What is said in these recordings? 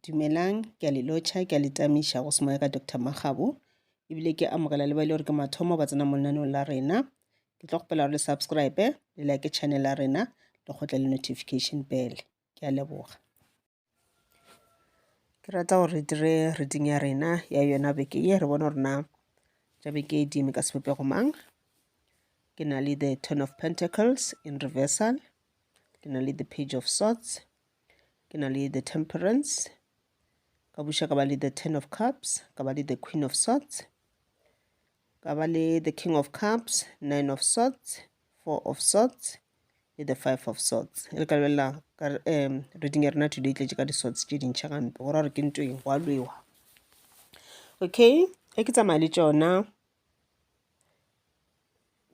Dumelang, ke a le lotšha, ke a le tamiša go semoya ka Doctor Makgabo, ebile ke amogela le ba e le gore ke mathomo ba tsena mo lenaneong la rena. Ke tlo kgopela gore le subscribe, le like channel ya rena, le kgotle le notification bell. Ke a leboga. Ke rata gore re dire reading ya rena ya yona beke ye, re bone gore na tša beke e di eme ka sebopego mang. Ke na le the Ten of Pentacles in reversal, ke na le the Page of Swords, Ke na le the temperance, ka buša ka ba le the ten of cups, ka ba le the queen of swords, ka ba le the king of cups, nine of swords, four of swords le the five of swords. E re ka lebelela ka um reading ya rena today e tletše ka di-swords tše dintšha gampe go ra gore ke ntweng go a lwewa okay e ke tsamaya le tšona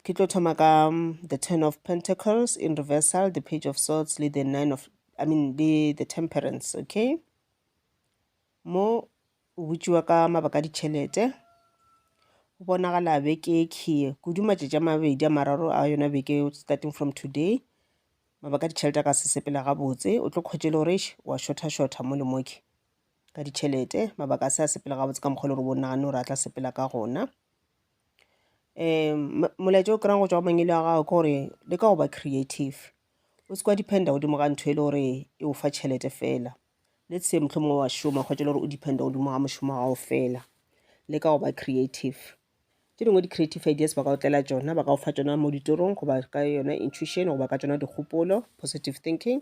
Ke tlo thoma ka um, the ten of pentacles in reversal, the page of swords le the nine of, I mean, le the temperance, okay? Mo o botšiwa ka mabaka a ditšhelete go bonagala beke key kudu matšatši a mabedi a mararo a yona beke starting from today mabaka ditšhelete a ka se sepela gabotse o tlo kgwetše le gore wa shotha shotha mo le moke ka ditšhelete mabaka a se a sepela gabotse ka mokgwa le gore bo nagane gore a tla sepela ka gona um molaetša o kry-ang go tšwa go mangwele a gago ke gore le ka go ba creative o se kwa dependa godimo ga ntho e le gore e o fa tšhelete fela let's say motlho mongwe wa šoma kgwetša le gore o dependa godimo ga mošomo wa gago fela le ka go ba creative tše dingwe di-creative ideas ba ka o tlela tšona ba ka go fa tšona mo ditorong goba ka yona intuition goba ka tšona dikgopolo positive thinking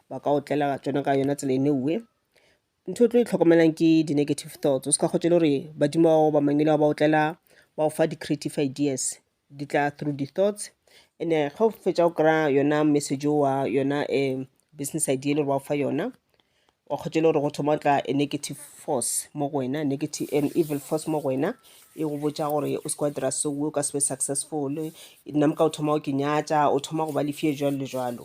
ba ka o tlela tšona ka yona tsela e neuwe ntho e tlo e tlhokomelang ke di-negative thoughts o se ka kgotse le gore badimo bao ba mangele ba ba otlela ba go fa di-creative ideas di tla through di-thoughts and-e ge o fetsa o kry-a yona message owa yona um business idea e le gore ba go fa yona wa kgotse e le gore go thoma go tla a negative force mo go wena an evil force mo go wena e go botša gore o se ke wa dira so o ka se be successful nna ka o thoma go ke nyatša o thoma go ba le fear jwalo le jwalo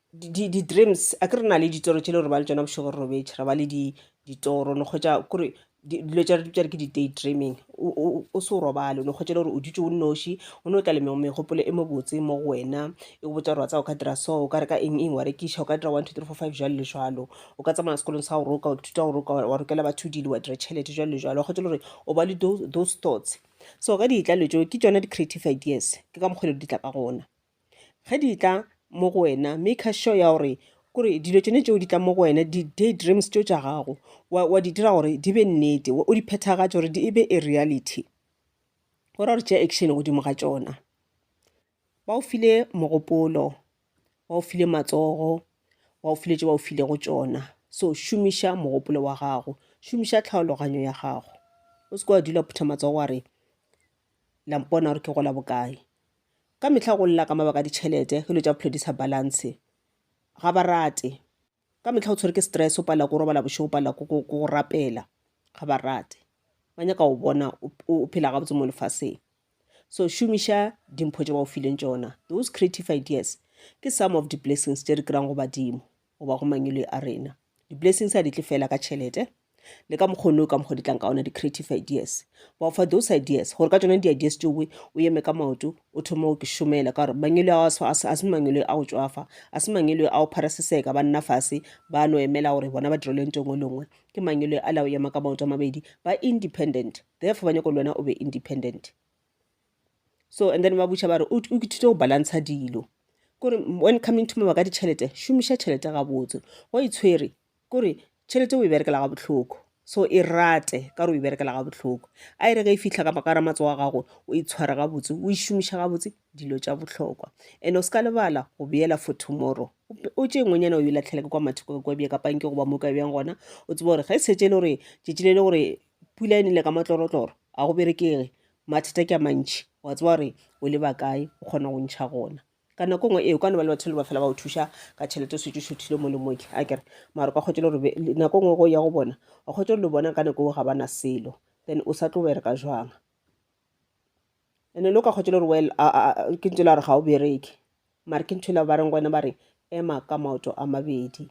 di-dreams a ke re na le ditoro tše le gore ba le tšona bošego re robetše re ba le ditoro no kgwetša kore dilo tša re ke di-day dreaming o se o robale o no kgwetša le gore o dutše o nnoši o ne o tla le megopolo e mobotse mo go wena e go botša gore wa tsa o ka dira so o ka re ka eng eng wa rekiša o ka dira one two three four five jalo le jalo o ka tsamaya sekolong sa go roka wa ithuta go roka wa rokela batho dilo wa dira tšhelete jalo le jalo wa kgwetša le gore o ba le those thoughts so ka ditla le tšeo ke tšona di-creative ideas ke ka mokgwa le di tla ka gona ge di tla mo go wena make sure ya gore kore dilo tsone tšeo di tla mo go wena di-day dreams tšeo tša gago wa di dira gore di be nnete o di phethagatša gore e be a reality go ra gore tšea action godimo ga tšona ba o file mogopolo ba o file matsogo ba o file tše ba o file go tšona so šomiša mogopolo wa gago šomiša tlhaologanyo ya gago o se ke wa dula phutha matsogo wa re lampona gore ke gola bokae Ka mehla go lla ka mabaka a ditšhelete, ge dilo tša bophelo di sa balance. Ga ba rate. Ka mehla o tshwere ke stress, o palela ke go robala bošego, o palela ke go rapela. Ga ba rate. Ba nyaka go bona o phela gabotse mo lefaseng. So šomiša dimpho tše ba go fileng tšona. Those creative ideas ke some of di blessings tše re kry-ang go badimo. goba go mangwele a rena. Di-blessings ha di tle fela ka tšhelete, le ka mokgonne o ka mokgwa di tlang ka ona di-creative ideas. Ba o fa those ideas, gore ka tsone di-ideas tšeo we o eme ka maoto, o thoma o ke šomela, ka gore mangwele ao a se mangwele a go tswafa, a se mangwele a go pharaseseka, ba nna fase, ba no emela gore bona ba direlwe nto engwe le nngwe. Ke mangwele a la o ema ka maoto a mabedi, ba independent, therefore ba nyako le wena o be independent. so and then ba butša ba re o ithute go balantsha dilo kore when coming to mama ka ditšhelete šomiša tšhelete gabotse go itshwere e kore tšhelete o e berekela ga botlhoko so e rate ka gore o e berekela ga botlhoko a e re ge e fitlha ka makara matso wa gago o e tshwara gabotse o e šomiša gabotse dilo tša botlhokwa and o se ka lebala go beela for tomorrow o tše ngwenyana o e latlhela ke kwa matheko kwa bja kapanke goba mo ka bjang gona o tseba gore ga e setse e le gore tšetši le le gore pula e nele ka matlorotloro a go berekege mathata ke a mantšhi wa tsewa gore o leba kae o kgona go ntšha gona ka nako ngwe ee kwa ne ba le batho le ba fela ba go thuša ka tšhelete o setse o šothile mo le moke a kere mara o ka kgwetsa le gore nako ngwe go ya go bona o kgwetsa le bona ka nako o ga bana selo then o sa tlo bereka jwang ene le o ka kgwetsa le gore well ke ntse la re ga o bereke mara ke ntho e la ba reng gona ba re ema ka maoto a mabedi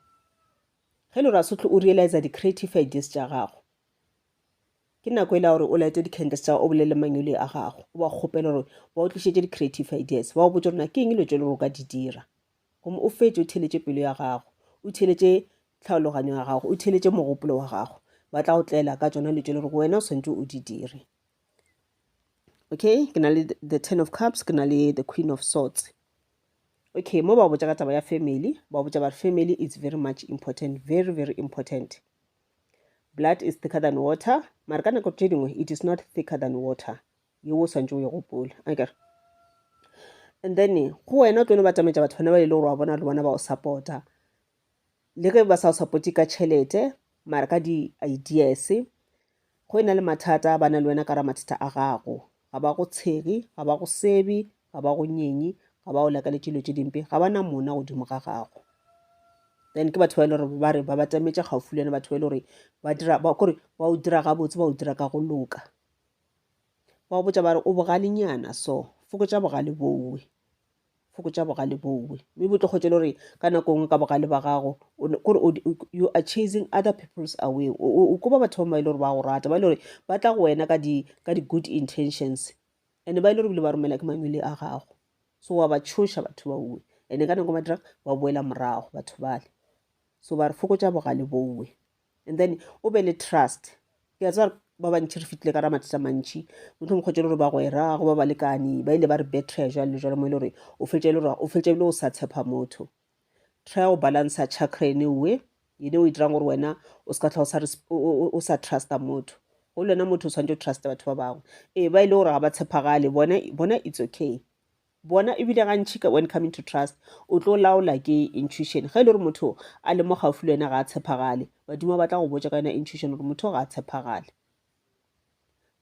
Ge Lorasotlo o realiza di creative ideas tša gago, ke nako ele ya gore o laete di candles tša gago o bolele manyoli a gago, o ba kgopele gore ba o tlišetše di creative ideas, ba o botše gore na ke eng dilo tše le gore o ka di dira. Gomme o fetše o theeletše pelo ya gago, o theeletše tlhaologanyo ya gago, o theeletše mogopolo wa gago, ba tla go tlela ka tšona dilo tše le gore wena o swantše o di dire. okay ke na le the ten of cups ke na le the queen of swords okay mo ba botsa ka taba ya family ba botsa ba family is very much important very very important blood is thicker than water mara ka nako tše dingwe it is not thicker than water ye o swantse o ye gopola akere and then go wena o tlo no ba tšametša batho bana ba e le gore wa bona le bona ba o supporta le ge ba sa o support ka tšhelete mara ka di ideas go ena le mathata ba na le wena ka ra mathata a gago ga ba go tshegi ga ba go sebi ga ba go nyenyi ga ba o lakale dilo tše dimpe ga ba na mona godimo ga gago then ke batho ba e le gore ba re ba batametša gaufi le yone batho ba e le gore ba dira ba kore ba o dira gabotse ba o dira ka go loka ba o botsa ba re o bogalenyana so fokotša bogale bowe Fokotša bogale bowe, mme bo tlo kgotše le gore ka nako nngwe ka bogale ba gago kore you are chasing other people's away. O koba batho ba ba e le gore ba go rata, ba e le gore ba tla go wena ka di-good intentions and ba e le gore bile ba romela ke mangwele a gago. So wa ba tshoša batho ba uwe and ka nako ba dira ba boela morago batho bale. So ba re fokotša bogale bowe. And then o be le trust ke a tseba ba bantšhi re fitlhile ka ra mathata mantšhi motho mongwe kgotse le gore bagwera go ba balekani ba ile ba re betray jwale le jwale mo e le gore o fetše le gore o fetše bile o sa tshepa motho try go balansa chakra ene uwe yene o e dirang gore wena o se ka tlha o sa trusta motho go le wena motho o tshwanetse o truste batho ba bangwe ee ba e le gore ga ba tshepagale bona it's okay Bona ebile gantši ka when coming to trust o tlo laola ke intuition. Ge e le gore motho a le mo gaufi le wena ga a tshepagale, badimo ba tla go botša ka yona intuition gore motho ga a tshepagale.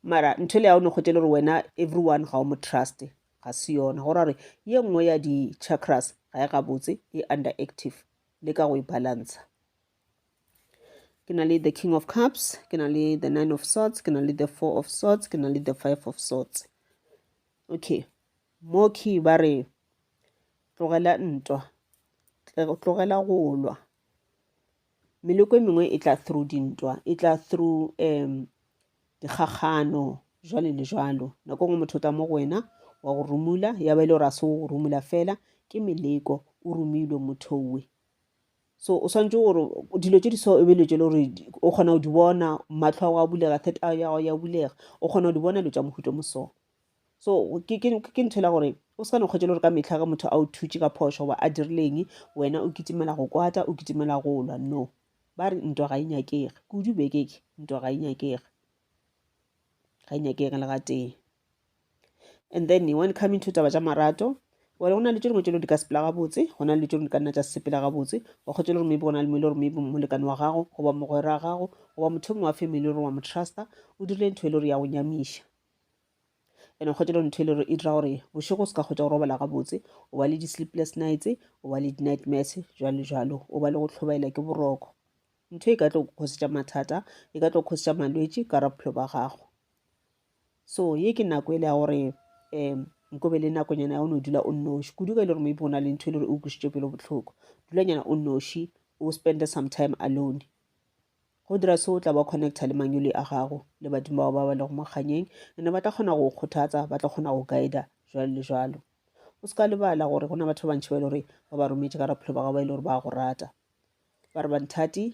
Mara ntho ele ya o no kgwete le gore wena everyone ga o mo truste ga se yona, go ra gore ye nngwe ya di-chakras ga e gabotse, e underactive. Le ka go e balantsha. Ke na le the king of cups, ke na le the nine of swords, ke na le the four of swords, ke na le the five of swords. Okay. Mooki ba re, Tlogela ntwa. Tlogela go lwa. Meleko e mengwe e tla through dintwa, e tla through um dikgakgano, jwale le jwalo. Nako nngwe motho o tla mo go wena, wa go rumula, ya ba e le gore a se o go rumula fela, ke meleko, o rumilwe motho we. So o swantse gore dilo tše di so e be dilo tše le gore o kgona go di bona matlho a go a bulega third eye ya go ya bulega o kgona go di bona dilo tša mohuto mo so so ke ntho la gore o se ka ne kgwetse le gore ka metlha ge motho a o thutše ka phošo goba a dirileng wena o kitimela go kwata o kitimela go lwa no ba re ntwa ga e nyakege kudu bekeke ntwa ga e nyakege ga e nyakege le gatee and then when coming to taba tša marato wale go na le tše dingwe tše di ka sepela gabotse go na le tše di ka nna tša sepela gabotse wa kgotse le gore maybe go na le mo e le gore maybe molekane wa gago goba mogwera gago goba motho mongwe wa family gore wa mo trusta o dirile ntho e le gore ya go nyamiša and o kgotse le ntho e le gore e dira gore bošego o se ka kgotsa go robala gabotse o ba le di-sleepless nights o ba le di-nightmares jalo jalo o ba le go tlhobaela ke boroko ntho e ka tlo kgosetša mathata e ka tlo kgosetša malwetši ka ra bophelo ba gago So ye ke nako e le ya gore um nko be le nakonyana ya o no dula o nnoši kudu ka e le gore maybe go na le ntho e le gore e o kwisitše pelo botlhoko dulanyana o nnoši o spende some time alone go dira se o tla ba connecta le manyole a gago le badimo bao ba ba lego mokganyeng ene ba tla kgona go kgothatsa ba tla kgona go guida jalo le jalo o se ka lebala gore go na batho ba bantšhi ba e le gore ba ba rometše ka raphelo ba gago ba e le gore ba go rata ba re banthati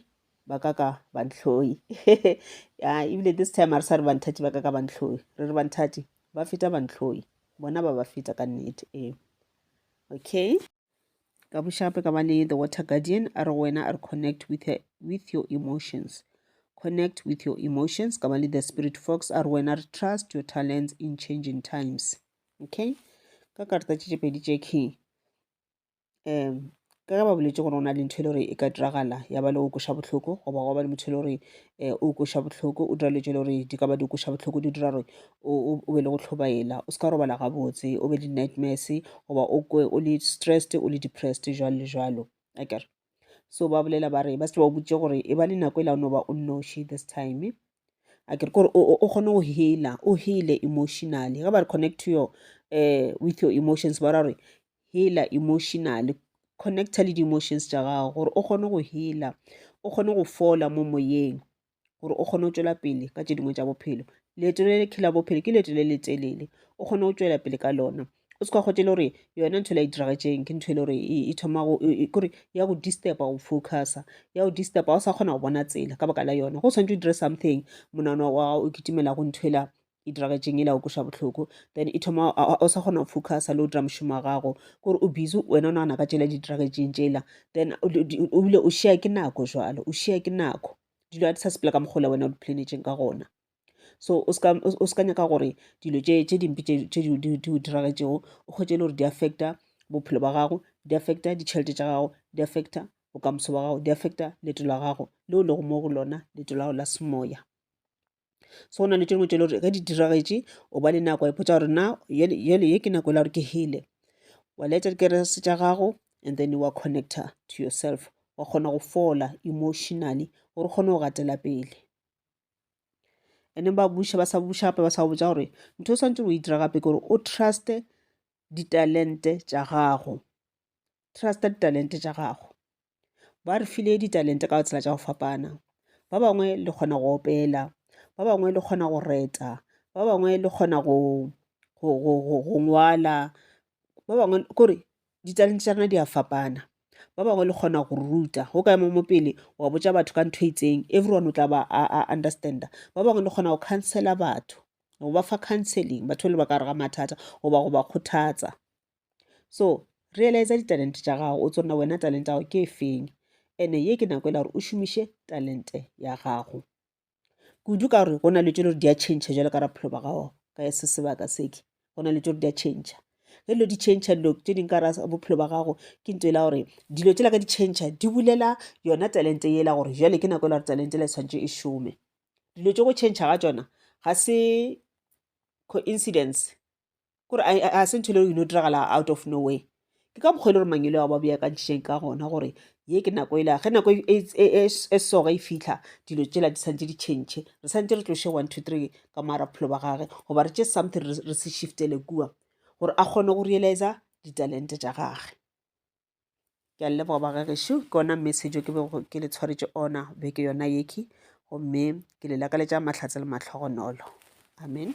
ba ka ka bantlhoi ya ebile this time a re sa re banthati ba ka ka bantlhoi re re banthati ba feta bantlhoi bona ba ba feta ka nnete ee okay ka bošape ka ba le the water guardian a re go wena a re connect with, her, with your emotions connect with your emotions ka ba le the spirit fox a re wena re trust your talents in changing times okay ka karta tše tše pedi tše key um ka ge ba boletse gore o na le ntho e le gore e ka diragala ya ba le o koša bohloko goba go ba le motho e le gore um o koša bohloko o dira le tse le gore di ka ba di koša bohloko di dira gore o be le go tlhobaela o se ka robala gabotse o be le nightmares goba o kwe o le stressed o le depressed jalo le jalo akere so ba bolela ba re ba se ba botse gore e ba le nako e la o no ba o nnoši this time a ke re kore o kgone go healer o heale emotionally ge ba re connect to your um with your emotions ba ra gore healer emotionally connecta le di-emotions tša gago gore o kgone go healer o kgone go fola mo moyeng gore o kgone go tšwela pele ka tše dingwe tša bophelo leeto le le khela bophelo ke leeto le le telele o kgone go tšwela pele ka lona o se ka kgotse le gore yona ntho e la e diragetseng ke ntho e le gore e, e thoma e, e, kore ya go disturba go focusa ya go disturba o sa kgona go bona tsela ka baka la yona go tshwanetse o dire something monano wa gago o kitimela go nthwela e diragetseng ele a okweša bohloko then e thoma o sa kgona go focusa le o dira mošomo wa gago kore o busy wena o nagana ka tšela di diragetseng tšela then o bile o share ke nako jalo o share ke nako dilo a di sa sepela ka mokgola wena o di planetseng ka gona so o ska nyaka gore dilo tše dimpe tše di o diragetšego o kgwetse e le gore di affecta bophelo ba gago di affecta ditšhelete tša gago di affecta bokamoso ba gago di affecta leto la gago leo lego mo go lona leto la gago la semoya so go na le tše dingwe tše le gore ge di diragetše o ba le nako wa ipotsa gore na yele ye ke nako e la gore ke hele wa laetša dikerese tša gago and then wa connecta to yourself wa kgona go fola emotionally gore kgone go gatela pele and then ba buša ba sa buša gape ba sa go botsa gore ntho o swantse o e dira gape ke gore o truste ditalente tša gago trusta ditalente tša gago Ba re file ditalente ka tsela tša go fapana, ba bangwe le kgona go opela, ba bangwe le kgona go reta, ba bangwe le kgona go ngwala, ba bangwe ke gore ditalente tša rena di a fapana. Ba bangwe le kgona go ruta, o ka ema mo pele wa botša batho ka ntho e itseng everyone o tla ba a understand-a. Ba bangwe le kgona go counsel-a batho, go ba fa counselling batho ba le ba ka gare ga mathata goba go ba kgothatsa. so realize ditalente tša gago o tsona wena talente ya gago ke efeng ene ye ke nako e la gore o šomiše talente ya gago kudu ka gore go na le tšo le di a change jalo ka raphelo ba gago ka se sebaka seke go na le tšo di a change ge dilo di change dilo tše ding ka ra bophelo ba gago ke nto e la gore dilo tše la ka di change di bulela yona talente e la gore jale ke nako e la gore talente la e tshwanetse e šome dilo tše go change ga tsona ga se coincidence kore a se ntho e le gore ino diragala out of no way ke ka mokgwa e le gore mangelo ao ba beakantšheng ka gona gore ye ke nako e lega ge nako e, e, e, e soga e fitlha dilo tsela di santse di tšhentšhe re santse re tloše one two three ka moara bophelo ba gage goba re tše something re se shiftele kua gore a kgone go realiza ditalente tša gage ke a leboga ba gagešu ke ona message ke be ke le tshwaretše ona beke yona yeke gomme ke le lakaletša mahlatse le matlhogonolo amen